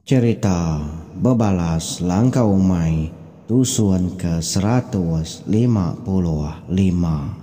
Cherita bebalas langkau umai tusun ke seratus lima puluh lima.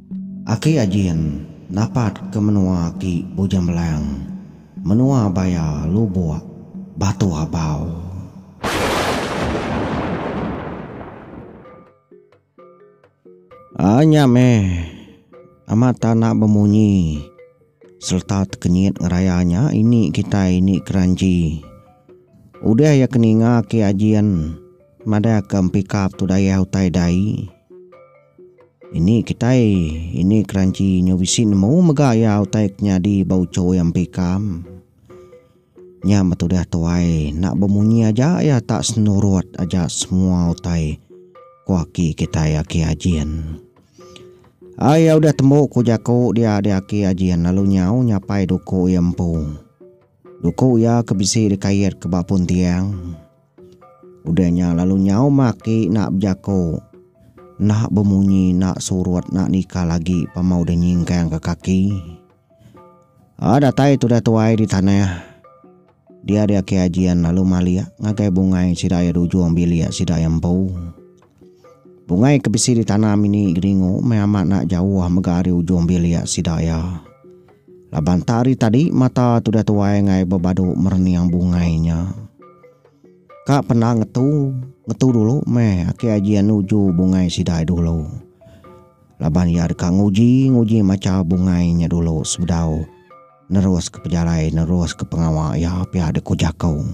Aki Ajin dapat ke menua aki Bujang Belang, menua baya Lubok, Batu Abau. Ai nya meh amat tanda bemunyi sereta tekenyit ngeraya nya ini kitai ini keranji. Udah iya ke ninga aki Ajin madahka empikap tu dayah utai dai. Ini kitai, ini keranchi nyo bisi nemu mega iya utai ke nyadi ba ucho iya empi ikam. Nya betudah tuai, enda bemunyi aja iya tak senurut aja semua utai ku aki kitai Aki Ajin. Ai iya udah tembu ku jaku dia di Aki Ajin lalu nyau nyapai duku iya empu. Duku iya ke bisi dikaitka ba puntiang. Udah nya lalu nyaum aki enda bejako enda bemunyi enda surut enda nikal agi pama udah nyingkang ka kaki. A datai tudah tuai di tanah dia ari aki Ajin lalu malik ngagai bungai sida iya di ujung bilik sida iya empu. Bungai ke bisi ditanam ini geringu meh amat enda jauh mega ari ujung bilik sida iya. Laban tak ari tadi mata tudah tuai engai bebadu merening bungai nya. Ka penda ngetu, ngetu dulu meh aki aji iya nuju bungai sida iya dulu. Laban iya deka nguji, nguji macha bungai nya dulu sebedau neruska pejalai, neruska pengawa iya pia dikuh jaku.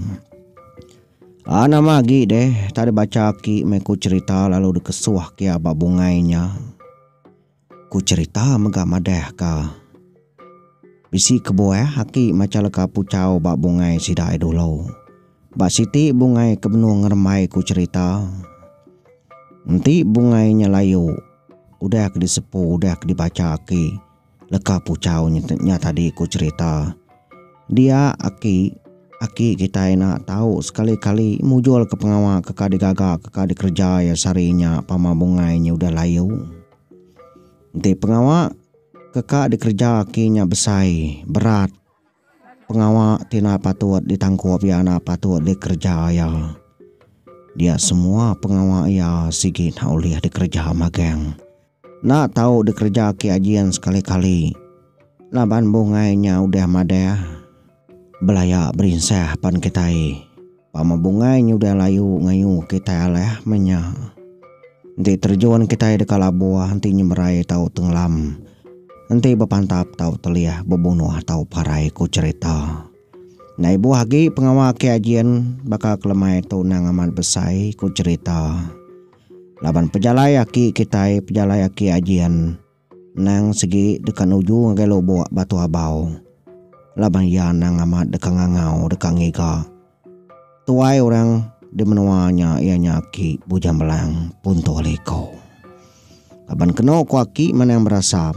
A Nama agi deh tak ada baca aki meh ku cerita lalu dikesuh kia ba bungai nya. Ku cerita mega madah ka. Bisi kebuah aki macha leka puchau ba bungai sida ai dulu. Ba siti bungai ke benung ngerembai ku cerita. Enti bungai nya layu udah ke disepu udah ke dibacha aki. Leka puchau nya tadi ku cherita. Dia aki aki kitai enda tau sekali kali mujul ke pengawa ke ka digaga ke ka dikereja iya sehari nya pama bungai nya udah layu. Enti pengawa ke ka dikereja aki nya besai berat pengawa ti enda patut ditangkup iya enda patut dikereja iya. Dia semua pengawa iya sigi enda ulih dikereja magang. Enda tau dikereja aki Ajin sekali-kali laban bungai nya udah madah belaya berinsah pan kitai. Pama bungai nya udah layu ngayu kitai alah meh nya. Enti terejun kitai deka labuh, enti nyemerai tau tengelam, enti bepantap tau telih bebunoh tau parai, ku cherita. Enda ibuh agi pengawa aki Ajin baka kelemai tu endang amat besai, ku cherita. Laban pejalai aki kitai pejalai aki Ajin endang segi deka nuju ngagai lubok Batu Abau laban iya endang amat deka ngangau deka ngiga. Tuai orang di menua nya iya nya aki Bujang Belang Punto Liko. Laban keno ku aki Manang Berasam.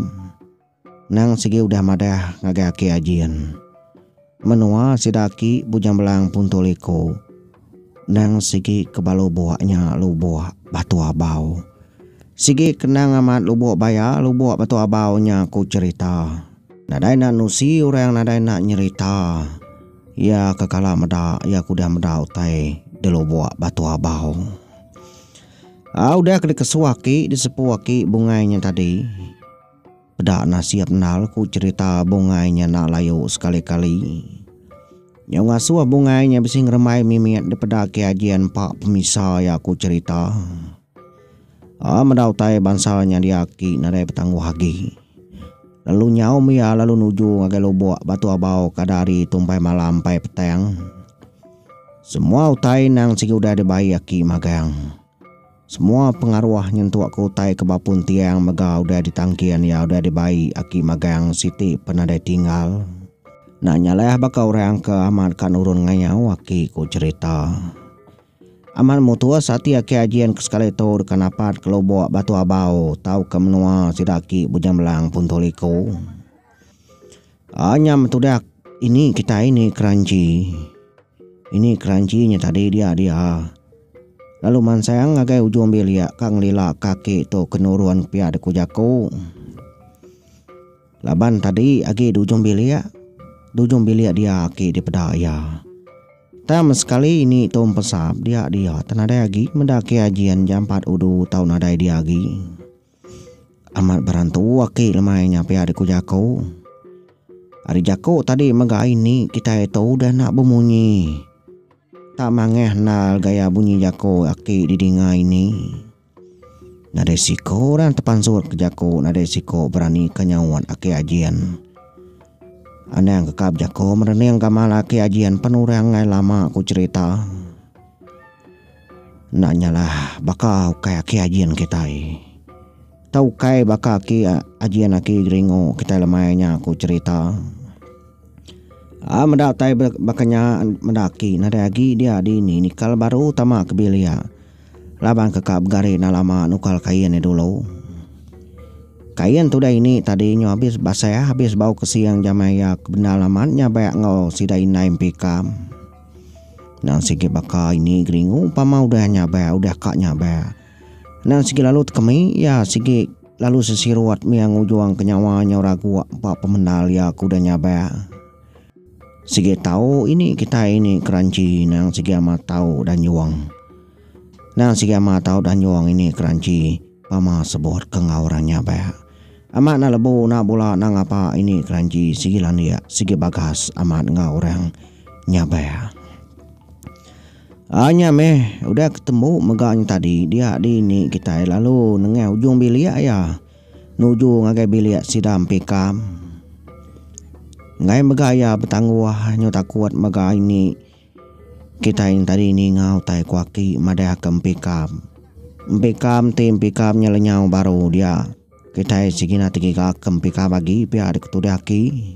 Nang sigi udah madah ngagai aki Ajin. Menua sida aki Bujang Belang puntul iko. Nang sigi ke ba lubok nya lubok Batu Abau. Sigi kenang amat lubok baya lubok Batu Abau nya ku cherita. Nadai enda nusi orang nadai enda nyerita iya ke kala meda iya ke udah meda utai di lubok Batu Abau. Au udah ke dikesu aki disepu aki bungai nya tadi. Peda nasib endal ku cerita bungai nya enda layu sekali-kali. Nyau ngasuh bungai nya bisi ngerembai mimit dipeda ke aji empa pemisa iya ku cerita. A meda utai bansa nya dia aki nadai betangguh agi. Lalu nyaum iya lalu nuju ngagai lubok batu abau ke ada ari tumbai malam empai petang. Semua utai endang sigi udah dibai aki magang. Semua pengaruh nyentuk ke utai ke bapun tiang mega udah ditangkin iya udah dibai aki magang siti pen nadai tinggal. Enda nyalai baka orang ke amat ka nurun ngayau aki ku cherita. Amat mutus ati aki Ajin ke sekali tu deka napat ke lubok Batu Abau tauka menua sida aki Bujang Belang Puntu Liku. Aa nya metudak ini kitai ni keranchi. Ini keranchi nya tadi dia dia. Lalu mansang ngagai ujung bilik ka ngelila kaki tu ke nurun pia deku jaku. Laban tadi agi di ujung bilik, di ujung bilik dia aki dipeda iya. Tang sekali ini tu empesap dia dia tah nadai agi meda aki Ajin jampat udu tau nadai dia agi. Amat berantu aki lemai nya pia diku jaku. Ari jaku tadi mega ini kitai tu udah enda bemunyi. Tak mangah endal gaya bunyi jaku aki didinga ini. Nadai siko orang tepansut ke jaku nadai siko berani ke nyaut aki Ajin. Anang ke ka bejaku merening gamal aki Ajin pen orang angai lama ku cerita. Enda nyalah baka ukai aki ajin kitai. Tau ukai baka aki ajin aki geringu kitai lemai nya ku cherita. A meda utai baka nya meda aki nadai agi dia dini nikal baru tama ke bilik laban ke ka begari enda lama nukal kain iya dulu. Kain tudah ini tadi nyu habis basah habis bau kesing jamai iya ke bendar amat nya bayak enggau sida indai empi ikam. Nan sigi baka ini geringu pama udah nyabar udah ka nyabar. Nan sigi lalu tekemi ya sigi lalu sesirut mia ngujung ke nyawa nyau raguk ba pemendar ya ke udah nyabar. Sigi tau ini kitai ini keranchi nang sigi amat tau danjung. Nang sigi amat tau danjung ini keranchi. Pama sebut ke enggau orang nya ba. Amat enda lebu enda bula enda ngapa ini keranji sigi landik sigi bagas amat enggau orang nya ba. A nya meh udah ke tembu mega nya tadi dia dini kitai lalu nengah ujung bilik iya nuju ngagai bilik sida empikam. Enggai mega iya betangguh nyau takut mega ini Kitai nya tadi ninga utai ku aki madahka empi kam. Empi kam ti empi kam nya lenyau baru dia. Kitai segina tegiga ke empi kam agi pia deka tudah aki.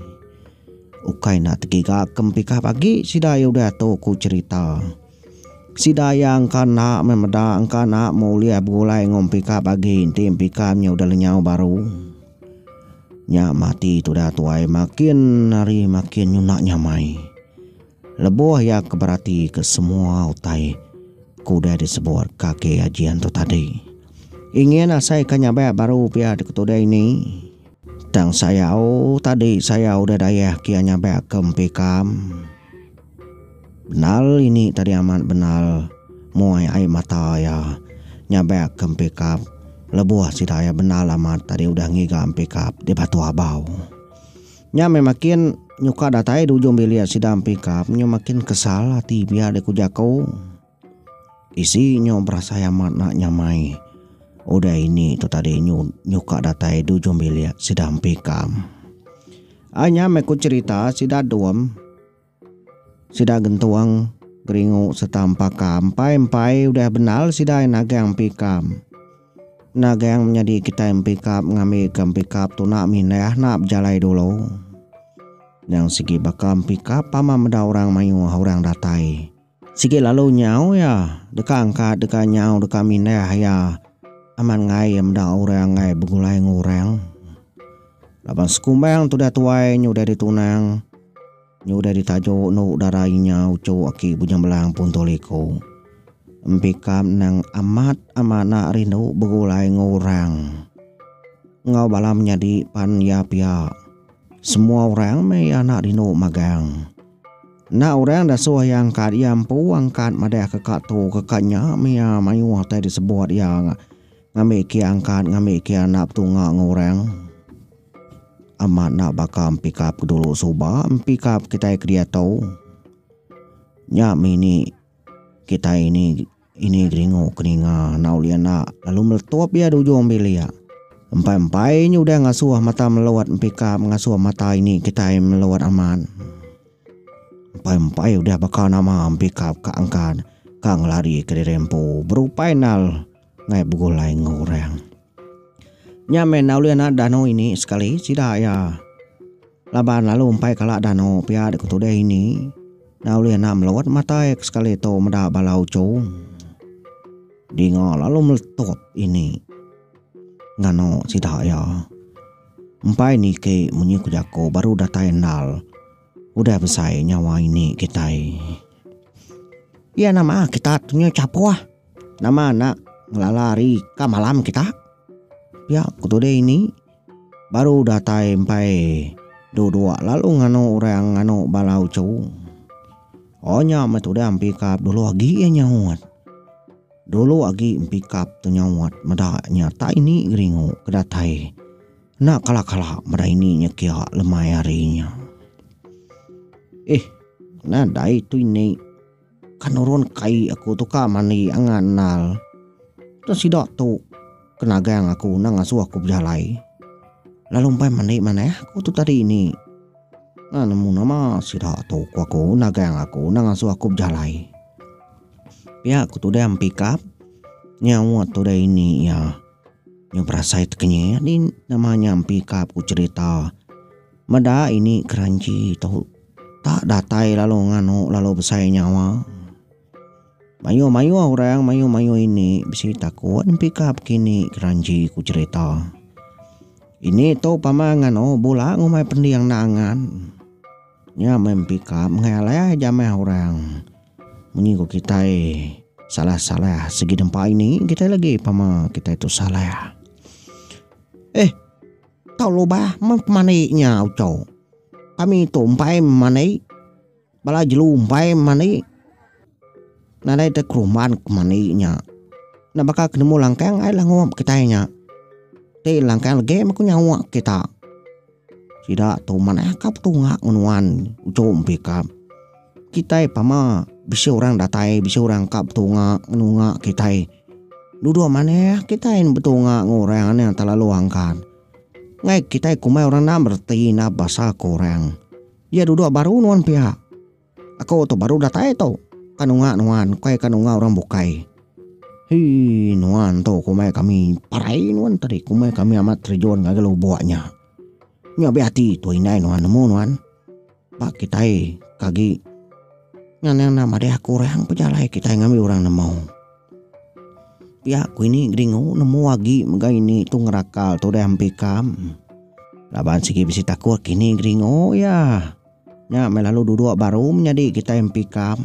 Ukai enda tegiga ke empi kam agi sida iya udah tu ku cerita. Sida iya engka enda meh meda engka enda meh ulih begulai enggau empi kam agi enti empi kam nya udah lenyau baru. Nya mati tudah tuai makin hari makin nyunak nyamai. Lebuh iya ke beratika semua utai ke udah disebut kaki Haji Anto tadi, ingin asai ke nyabak baru pia diketudai ini. Tang sayau tadi sayau udah dayah ke iya nyabak ke empi kam. Benal ini tadi amat benal muai ai mata iya nyabak ke empi kap lebuh sida iya benal amat tadi udah ngiga empi kap di Batu Abau. Nya meh makin nyuka datai di ujung bilik sida empi kap nyu makin kesal ati pia deh ku jaku. Isi nyu berasai amat nak nyamai udah ini tu tadi nyu nyuka datai di ujung bilik sida empi kap. Ai nya meh ku cerita sida dom Sida gentung, geringu sereta empaka empai-empai udah bendar sida ai nagang pikam. Nagang menyadi kitai empikap ngambika empikap tunak mindah enda bejalai dulu. Nyang sigi baka empikap pama meda orang mayuh orang datai. Sigi lalu nyau iya deka angkat deka nyau deka mindah iya amat enggai iya meda orang enggai begulai enggau orang. Laban sekumbang tudah tuai nyu udah ditunang nyu udah ditajuk endu dara inya uchu aki Bujang Belang Punto Liko. Empi kam nang amat amat enda rindu begulai enggau orang enggau bala menyadi pan iya pia. Semua orang meh iya enda rindu magang. Enda orang dasuh iya angkat iya empu angkat madah ke ka tu ke ka nya meh iya mayuh tai disebut iya ngambi kia angkat ngambi kia enda betunga enggau orang. Amat enda baka empikap ke dulu suba empikap kitai ke diatu nya meh ini kitai ini. Ini geringu ke ninga enggau Lia enda lalu meletup iya di ujung bilik iya. Empai-empai nya udah ngasuh mata Meluat empikap ngasuh mata ini kitai Meluat amat. Empai-empai udah baka nama empikap ka angkat ka ngelari kediri empu berupai nal ngai begulai enggau orang. Nya meh enda ulih naat danu ini sekali sida iya laban lalu empai kala danu pia deka tudih ini enda ulih naat meluat mata iya sekali tu meda bala uchu dinga lalu meletup ini nganu sida iya empai niki munyi ku jaku baru datai endal udah besai nyawa ini kitai iya nama kitak nya chapoh. Nama enda ngelala ari ka malam kita? Pia ku tuding ini baru datai empai dua-dua lalu nganu orang nganu bala uchu. O nya meh tuding pikap dulu agi iya nyaut. Dulu agi pikap tu nyaut meda nya tak ini geringu ke datai enda kala-kala meda ini nya kia lemai hari nya. Ih enda dai tu ini. Ka nurun kai aku tu ka mandi angan endal. Tang sida tu ke nagang aku endang ngasuh aku bejalai. Lalu empai mandi manah aku tu tadi ini. Nah nemu nama sida tu ku aku nagang aku endang ngasuh aku bejalai. Pia ku tudah mepikap nyawa tudah ini iya. Nya berasai tekenyit din nama nya mepikap ku cerita. Meda ini keranchi tu tak datai lalu nganu lalu besai nyawa. Mayuh-mayuh orang mayuh-mayuh ini bisi takut nempika pekini keranchi ku cherita. Ini tu pama nganu bula ngumbai pending enda angan. Nya meh nempika mengeh alai jameh orang. Munyi ku kitai salah-salah segi nempa ini kitai legi pama kitai tu salah. Eh. Tau lubah meh pemandai nya ucau. Kami tu empai memandai. Bala jelu empai memandai. Nadai te kerumban kemandai nya. Enda baka ke nemu langkang ai langup kitai nya. Ti langkang legi meh ku nyawa kita. Sida tu manah ka petunga ngen nuan, ucau empi ka. Kitai pama bisi orang datai bisi orang ka betunga ngunga kitai. Duduk manah kitai enda betunga ngan orang enda telalu angkan. Ngai kitai kumbai orang enda bereti enda basa ke orang. Iya duduk baru nuan piak. Aku tu baru datai tu ka nunga nuan bukai ka nunga orang bukai. Hii nuan tu kumbai kami parai nuan tu tadi kumbai kami amat terjun ngagai lubok nya. Nya be ati tu indai nuan nemu nuan. Ba kitai ke agi nyana enda madah aku orang pejalai kitai ngambi orang nemu. Pia ku ini Gringo nemu agi mega ini tu ngerakal tudah empi ikam. Laban sigi bisi takut kini Gringo iya nya meh lalu dudok baru menyadi kitai empi ikam.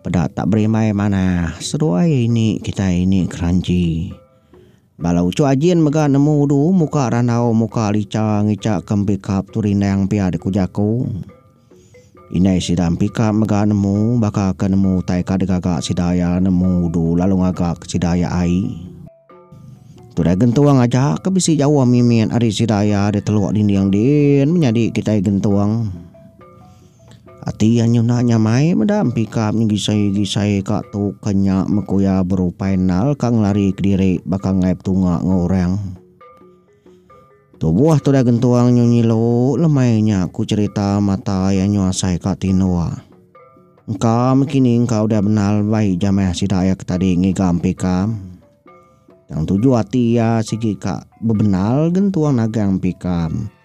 Peda tak berimbai manah seduai ini kitai ini keranji. Bala uchu ajin mega nemu udu muka randau muka licha ngicha ke empi kap tu rindang pia dek ku jaku. Indai sida empi kap mega nemu baka ke nemu utai ka degaga sida ia nemu udu lalu ngaga ke sida ia ai. Tu dai gentung aja ke bisi jauh mimit ari sida ia diteluk dinding din menyadi kitai gentung. Ati iya nyuna nyamai meda empika nyegisai-gisai ka tu ke nya meku iya berupai nal ka ngelari kediri baka enggai betunga enggau orang. Tubuh tudah gentung nyu nyilu lemai nya ku cherita mata iya nyu asai ka tindor. Engka mih kini engka udah benal bai jamah sida iya ke tadi ngiga empika. Tang tuju ati iya sigi ka bebenal gentung nagang empika.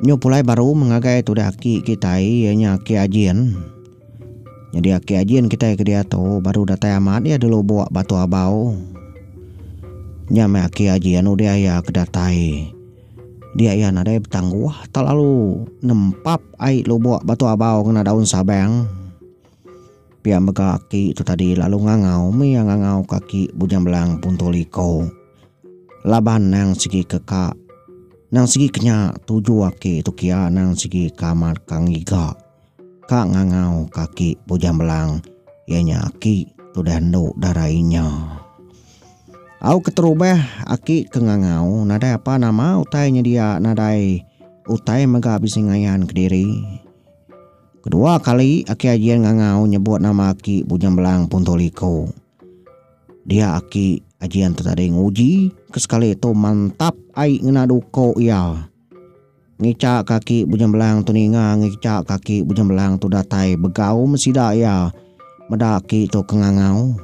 Nyu pulai baru mengagai tudah aki kitai iya nya Aki Ajin. Nyadi Aki Ajin kitai ke diatu baru datai amat iya dilubok Batu Abau. Nya meh Aki Ajin udah iya ke datai dia iya nadai betangguh telalu nempap ai lubok Batu Abau ngena daun sabang. Pia mega aki tu tadi lalu ngangau mih iya ngangau ka aki Bujang Belang Punto Liko. Laban nang sigi ke ka nang sigi ke nya tuju aki tu kia nang sigi ke amat ka ngiga ka ngangau ka aki Bujang Belang iya nya aki tudah endo dara inya. Au keterubah aki ke ngangau nadai apa nama utai nyedia nadai utai mega bisi ngayan kediri. Kedua kali aki Ajin ngangau nyebut nama aki Bujang Belang punto liko. Dia aki aji enta tadi nguji ke sekali tu mantap ai ngena duko iya. Ngica kaki Bujembelang tu ninga ngica kaki Bujembelang tu datai begaum sida iya meda aki tu ke ngangau.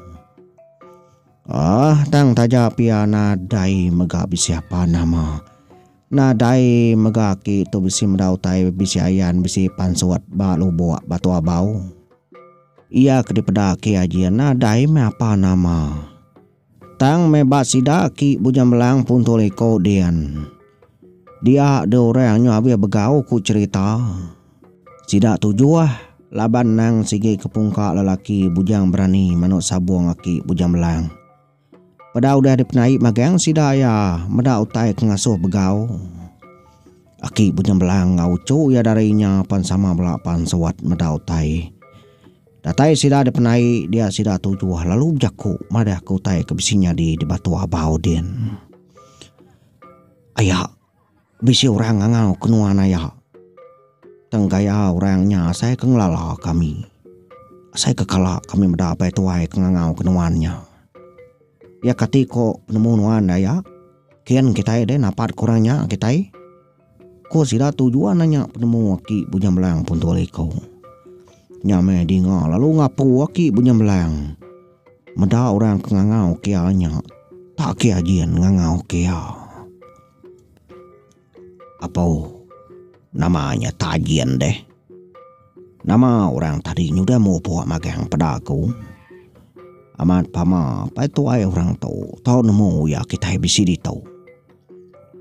Ah tang taja pia nadai mega bisi apa nama. Nadai mega aki tu bisi meda utai bisi ayan bisi pansut ba lubok Batu Abau. Iya ke dipeda aki aji nadai meh apa nama. Tang meh ba sida aki Bujang Belang puntul iko din. Dia dua orang nyu abis begau ku cerita. Sida tujuh laban nang sigi ke pungka lelaki Bujang Berani manuk sabong aki Bujang Belang. Peda udah dipenai magang sida iya meda utai ke ngasuh begau. Aki Bunyembelang enggau uchu iya dari nya pan sama bela pan suwat meda utai. Datai sida dipenai dia sida tujuh lalu bejaku madahka utai ke bisi nyadi di Batu Abau din. Aya. Bisi orang ngangau ke nuan aya. Tang gaya orang nya asai ke ngelala kami. Asai ke kala kami meda apai tuai ke ngangau ke nuan nya. Iya kati ko penemu nuan da aya. Kin kitai deh napat ke orang nya kitai. Ko sida tu jua nanya penemu aki Bujang Belang punto liko. Nya meh dinga lalu ngapu aki Bujang Belang. Meda orang ke ngangau ke iya nya tak ke ajin ngangau ke iya. Apau nama nya tak ajin deh. Nama orang tadi nyudah mupuk magang peda aku. Amat pama pai tuai orang tu tau nemu iya kitai bisi ditu.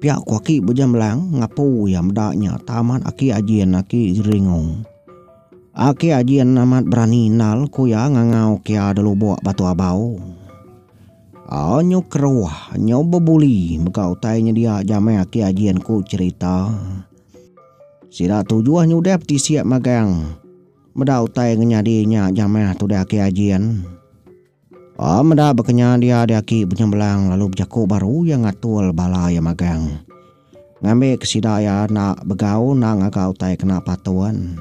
Pia ku aki bejemlang ngapu iya meda nya tah amat aki ajin aki Geringo. Aki Ajin amat berani endal ku iya ngangau kia da lubok Batu Abau. Anyu keruh, anyu bebuli mega utai nyedia jamai Aki Ajin ku cherita. Sida tujuh nyudah betisik magang meda utai ngenyadi nya jamah tudah Aki Ajin. Ba meda baka nya dia ari aki Benyembelang lalu bejaku baru iya ngatul bala iya magang. Ngambika sida iya enda begau enda ngaga utai kena patun.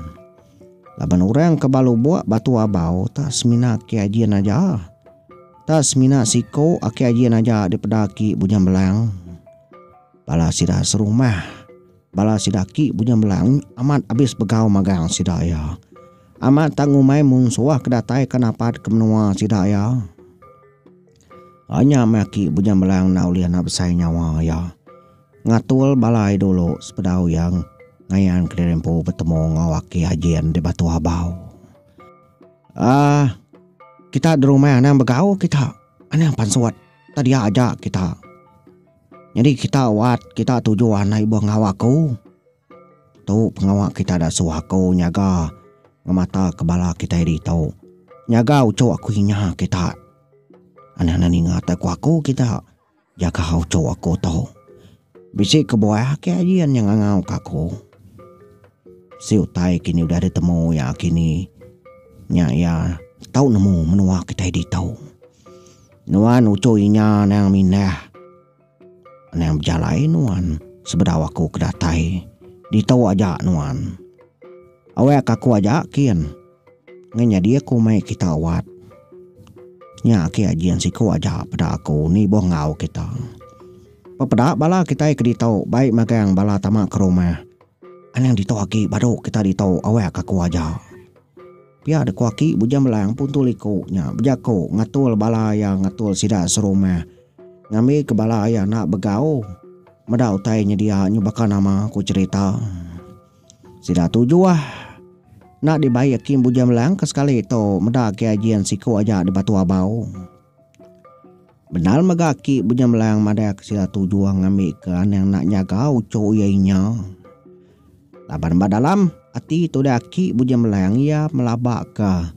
Laban orang ke ba lubok Batu Abau tak semina aki Ajin aja. Tak semina siku aki Ajin aja dipeda aki Benyembelang. Bala sida serumah. Bala sida aki Bunya Melang amat abis begau magang sida iya. Amat tang umai mung suah ke datai ke napat ke menua sida iya. Anya meh aki Bunya Melang enda ulih anak besai nyawa iya. Ngatul bala ai dulu sepedau iya ngayan kediri empu betemu enggau aki Ajin di Batu Abau. Ah kita derumai anang begau kita. Anang pansut. Tadi aja kita. Nyadi kita wat kita tuju anai ibuh ngawa aku. Tu pengawa kita da suah aku nyaga ngemata ke bala kitai ditu. Nyaga uchu aku inya kita. Anang ne ninga te ku aku kita jaga uchu aku tu. Bisi kebuah ake aji iya nya ngangau ka aku. Si utai kini udah ditemu iya kini nya iya tau nemu menua kitai ditu. Nuan uchu inya anang mindah. Anang bejalai nuan sebedau aku ke datai ditu aja nuan. Awak aku aja kin ngan nyadi aku mai kita awat. Nya agi ajin siku aja peda aku nibuh enggau kita. Pepeda bala kitai ke ditu bai magang bala tama ke rumah. Anang ditu agi badu kita ditu awak aku aja. Pia dek ku aki Bujang Belang puntul iko nya bejako ngatul bala iya ngatul sida serumah. Ngambi ke bala iya enda begau meda utai nyedia nyu baka nama ku cherita. Sida tu juah. Enda dibai aki Bujang Belang ke sekali tu meda KIJ siku aja di Batu Abau. Bendar mega aki Bujang Belang madahka sida tujuh ngambika anang enda nyaga uchu iya inya. Laban ba dalam ati tudah aki Bujang Belang iya melabaka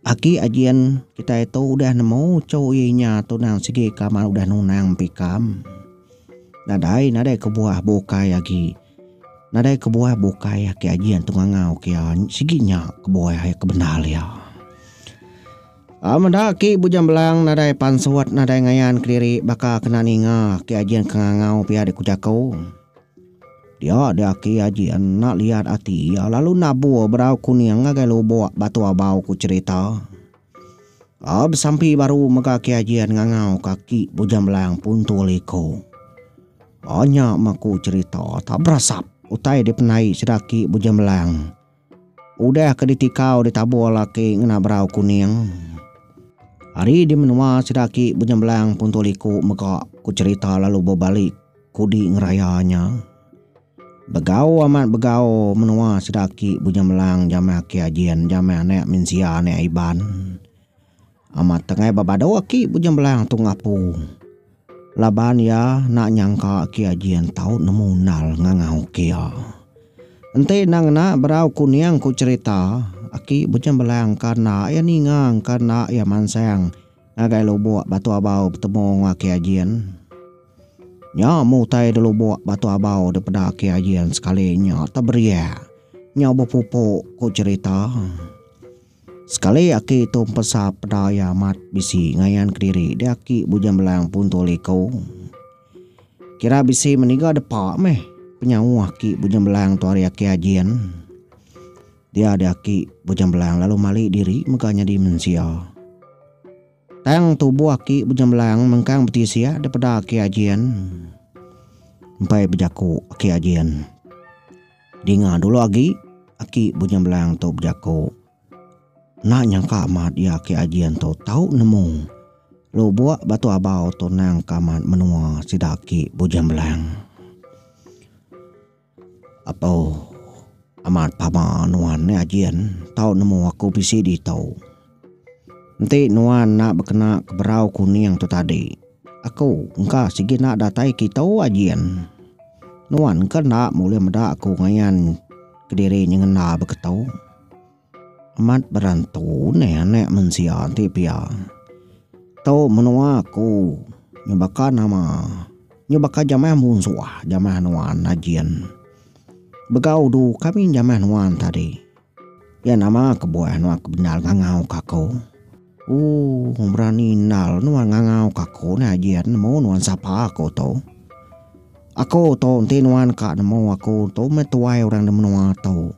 aki Ajin kitai tu udah nemu uchu iya inya tunang sigi kaman udah nunang empu ikam nadai nadai kebuah bukai agi. Nadai kebuah bukai aki aji antu ngangau ke iya sigi nya kebuah iya kebendar iya. Meda aki Bujang Belang nadai pansut nadai ngayan kediri baka kena ninga aki aji enti ngangau pia diku jaku. Dia dia aki aji enda liat ati iya lalu nabur bedau kuning ngagai lubok Batu Abau ku cherita. Besampi baru mega aki aji ngangau ka aki Bujang Belang puntur liko. Nya maku cherita tak berasap utai dipendai Sedaki Bujang Belang. Udah ke ditikau ditabur laki ngena berau kuning. Hari di menua Sedaki Bujang Belang puntung liku mega ku cherita lalu bebalik kudi ngeraya nya. Begau amat begau menua Sedaki Bujang Belang jaman aki Ajin, jaman anak mensia anak Iban. Amat tengai ba badu aki Bujang Belang tu ngapu laban iya enda nyangka aki Aji Entau nemu endal ngangau ke iya. Enti enda ngena berau kuning ku cherita, aki Bujang Belang ka enda iya ninga engka enda iya mansang ngagai lubok Batu Abau betemu enggau aki Ajin. Nya meh utai di lubok Batu Abau dipeda aki Ajin sekali nya teberiak. Nya bepupu ku cherita. Sekali aki tu empesa peda iya amat bisi ngayan kediri dia aki Bujang Belang Punto Liko. Kira bisi meniga depa meh penyauh aki Bujang Belang tu ari aki Ajin. Dia dia aki Bujang Belang lalu mali diri mega nyadi mensia. Tang tubuh aki Bujang Belang mengkang betisik daripada aki Ajin. Empai bejaku aki Ajin. Dinga dulu agi, aki Bunyang Belang tu bejaku. Enda nyangka amat iya aki Ajin tu tau nemu lubuk batu abau tu nang ke amat menua sida aki Bunyang Belang. Apo amat pama nuan nih Ajin tau nemu aku bisi ditu. Enti nuan enda bekena ke berau kuning tu tadi, aku engka sigi enda datai kitu ajin. Nuan ke enda bulih meda aku ngayan kediri nyengenda beketu. Amat berantu neh anak mensia enti pia. Tu menua aku nyau baka nama, nyau baka jamah munsuh jamah nuan ajin. Begau du kami jamah nuan tadi. Iya nama kebuah nuan ke bendar ngangau ka aku. Ooh berani endar nuan ngangau ka aku nya Jin nemu nuan sapa aku tu. Aku tu enti nuan ka nemu aku tu meh tuai orang di menua tu.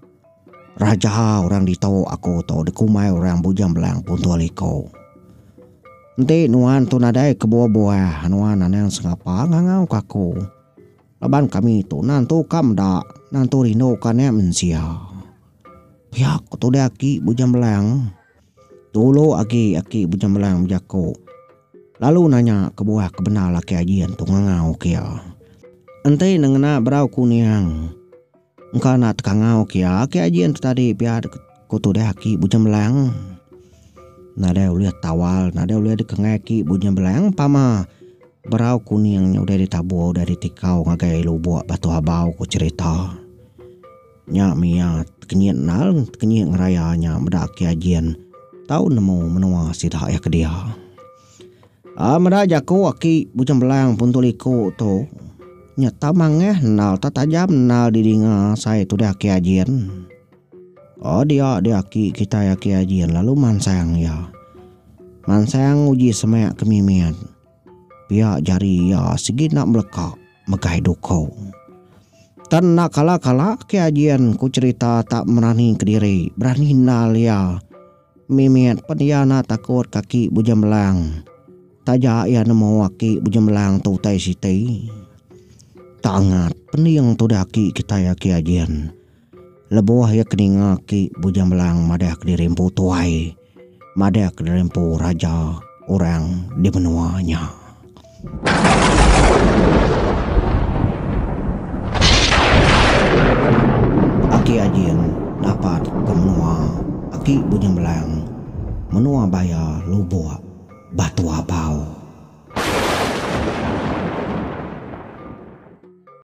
Raja orang ditu aku tu dikumbai orang Bujang Belang Punto Liko. Enti nuan tu nadai kebuah-buah nuan anang sengapa ngangau ka aku. Laban kami tu nantu ka meda, nantu rindu ka naik mensia. Pia ko tudah aki Bujang Belang. Dulu agi aki Bujang Belang bejako lalu nanya kebuah ke bendar laki Aji antu ngangau ke iya. Enti ne ngena berau kuning. Engka enda tekangau ke iya agi aji enti tadi pia ku tudih aki Bujang Belang. Nadai ulih tawal nadai ulih dikenggai aki Bujang Belang pama berau kuning nya udah ditabur udah ditikau ngagai lubok Batu Habau ku cherita. Nya mih iya tekenyit endar tekenyit ngeraya nya meda aki Ajin tau nemu menua sida iya ke dia. Ah meda jaku aki bujang belang pun tu liku tu nya tau mangah endal tau tajam endal di dinga sai tudah aki ajin. Oh dia dia aki kitai aki ajin lalu mansang iya. Mansang uji semak ke mimit. Pia jari iya sigi enda beleka megai duku. Tan enda kala kala aki ajin ku cerita tak merani kediri berani endal iya. Mimit pen iya enda takut kaki Bujemlang taja iya nemu aki Bujemlang tu utai siti. Tangat pening tudah aki kitai aki Ajin lebuh iya keninga aki Bujemlang madah kediri empu tuai, madah kediri empu raja orang di menua nya. Aki Ajin dapat ke menua Aki Bunyi Melang, menua Baya Lubok, Batu Abau.